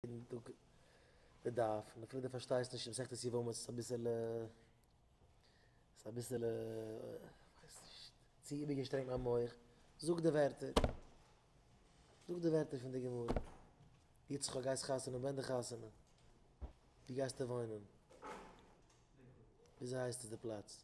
יעדן טאג די דף, און אפילו די פארשטייסט נישט מסכת יבמות איז אביסעלע איז אביסעלע כ'ווייס נישט צו איבערגעשטרענגט מיין מח, זאג די ווערטער, זאג די ווערטער פון די גמרא, יצחק גייסט חתונה ווען די חתונה? ווי גייסטו וואוינען? וויאזוי הייסט עס די פלאץ?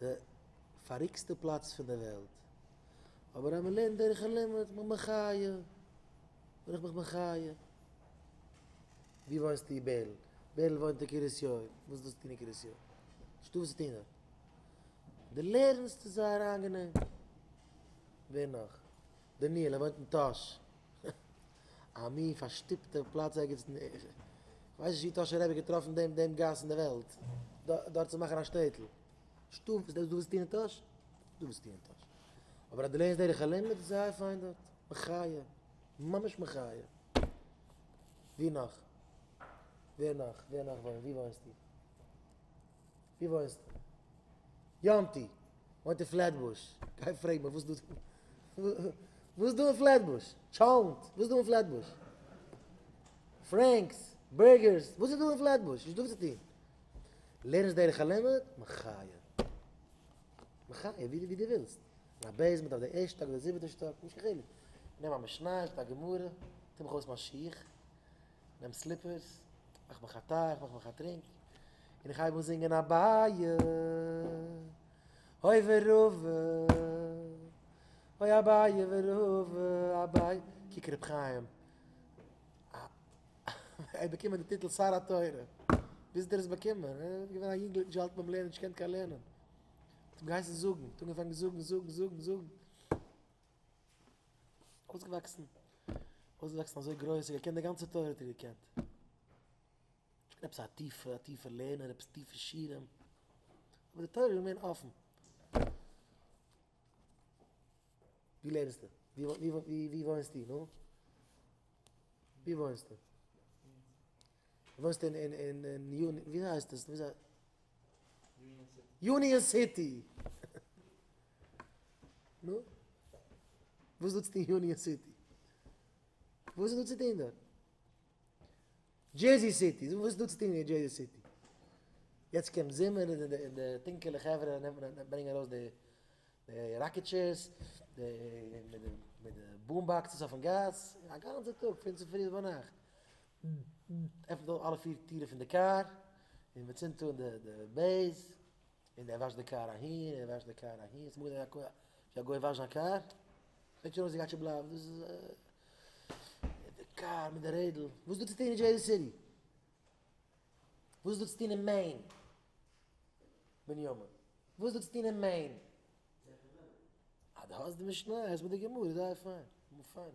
די פאריקסטע פלאץ פון די וועלט, אבער אז מען לערנט דרך הלימוד איז מען מחיה, בין איך מיך מחיה. ווי וואוינסטו בערל? בערל וואוינט אין קרית יואל, וואס האט דאס צוטון אין קרית יואל? נישטא וואס צו טון דארט. די לערנסט איז זייער איינגענעם. ווער נאך? דניאל ער וואוינט אין טאהש. א מין פארשטופטער פלאץ ערגעץ אין, איך ווייס נישט ווי טאשער רבי האט געטראפן דעם דעם גאס אין די וועלט דארט צו מאכן א שטעטל. שטוב איז דאס וואס דו ווילסט טון אין טאהש? דו ווילסט טון אין טאהש. אבער אז דו לערנסט דרך הלימוד איז זייער פיין דארט. מחיה. ממש מחיה. ווי נאך? ווער נאך? ווער נאך וואוינט? ווי וואוינסטו? ווי וואוינסטו? יאנטי, איך וואוין אין פלעטבוש. גיי פרעג מיר וואס דא וואס דא אין פלעטבוש? טשאלנט, וואס דא אין פלעטבוש? פרענקס, בורגערס, וואס איז דא אין פלעטבוש? וואס איז דא צו טון? לערנסט דרך הלימוד? מחיה. מחיה, ווי דו ווילסט. אין א בעיסמענט, אויף די ערשטע שטאק, אויף די זיבעטע שטאק, נישט קיין חילוק. נעם א משניות, א גמרא, טו מיך אויס מיין שיך. נעם סליפערס, מאך מיך א טיי, מאך מיך א טרינק, און איך הייב אן זינגען אביי, אוי ווערעווע, אוי אביי ווערעווע, אביי, קוק ר' חיים, ער האט באקומען די טיטל שר התורה, ווי האט ער דאס באקומען? ער איז געווען א יונגלעך נישט געהאלטן ביים לערנען, נישט געקענט קיין לערנען, האט אים געהייסן זאגן, האט אנגעפאנגען זאגן, זאגן, זאגן, זאגן. אויסגעוואקסן אויסגעוואקסן אזוי גרויס ער האט געקענט די גאנצע תורה האט ער געקענט. עפעס א טיפע א טיפע לערנער עפעס טיפע שירים. אבער די תורה איז געווען אפן. ווי לערנסטו? ווי ווי ווי ווי וואוינסטו נו? ווי וואוינסטו? וואוינסט אין אין אין אין יוני ווי הייסט עס? יוניאן סיטי. נו? וואס איז דא צו טון אין יוניאן סיטי? וואס איז דא צו טון דארט? דזשערזי סיטי. וואס איז דא צו טון אין דזשערזי סיטי? יעצט קומט זומער און די טונקעלע חברה ברענגען ארויס די ראקעטשערס, די מיט די בום באקסעס אויפן גאס, א גאנצע טאג פון צופרי ביז ביינאכט. עפענט אויף אלע פיר טירן פון די קאר און מען צינדט אן די בעז און ער וואשט די קאר אהין און ער וואשט די קאר אהין, ס'מאל געזען א ווי א גוי וואשט זיין קאר, קוקט שוין אויס ווי גייט שוין בלייבן דאס איז די קאר מיט די רעדל, וואס איז דא צו טון אין דזשערזי סיטי? וואס איז דא צו טון אין מעין? בנימין, וואס איז דא צו טון אין מעין? אה דו האסט די משנה, הערסט מיט די גמרא, זייער פיין, פיין.